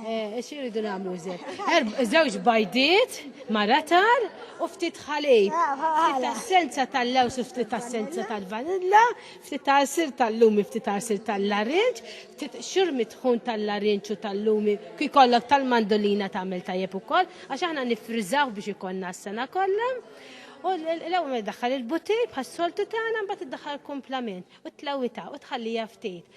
Eh, Xi rridu nagħmlu żed? Żewġ bajdiet, maratar u ftit ħalib. Ftit assenza tal-lews u ftit assenza tal-vanilla, ftit għasir tal-lumi, ftit għasir tal-larinġ, ftit xur mitħun tal-larinġ u tal-lumi, ki kollok tal-mandolina tagħmel tajjeb ukoll, għax aħna nifriżaw biex ikonna s-sena kollha. U l-ewwel daħħal il-butir bħas-soltu tagħna mbagħad iddaħħal komplament u tlewita u tħallija ftit.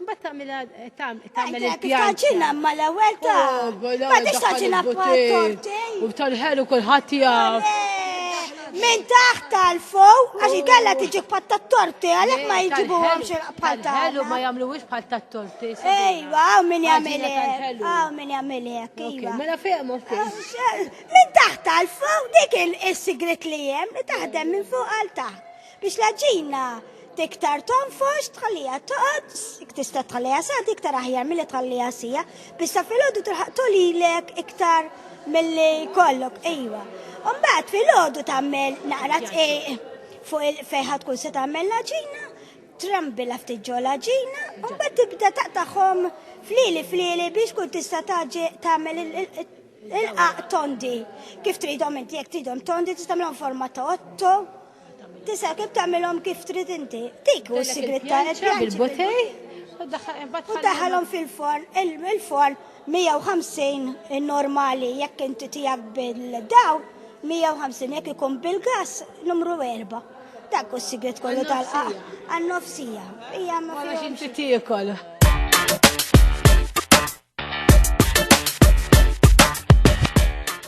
Mbagħad tagħmilha tagħmel il-pjan. Taġina ma l-ewwel ta'. Ma tix taġina torti. U tal-ħelu kulħadd jaf. Min taħt tal-fuq, għax ikella tiġi bħal tat-torti, għalhekk ma jġibu bħal ta' ħelu ma jagħmluwiex bħal tat-torti. Ejwa, hawn min jagħmel hekk. Hawn min jagħmel hekk. Iva. Mela fejn Min taħt tal-fuq dik is-sigrit li hemm li taħdem minn fuq għal taħt. Biex l-għaġina tiktar tonfox, tħallija toqgħod, ik tista' tħallija sa iktar aħjar milli tħallija sija, biex sa filgħodu tilħaq tolilek iktar milli kollok, ejwa. Umbagħad filgħodu tagħmel naqra tqiq fuq il-fejħa tkun se tagħmel l-għaġina, trambila ftit ġo l-għaġina, umbagħad tibda taqtaħhom flili flili biex kun tista' tagħmel il-qaq tondi. Kif tridhom inti jekk tridhom tondi tista' forma ta' otto, Tisa' kif tagħmilhom kif trid inti. Dik u s-sigretta qed bil-butej u daħalhom fil-forn, il-forn 150 normali jekk inti tiegħek bil-daw 150 jekk ikun bil-gas numru 4. Dak u s-sigret kollu tal-qaq għan-nofsija. Hija ma fiex inti tiekol.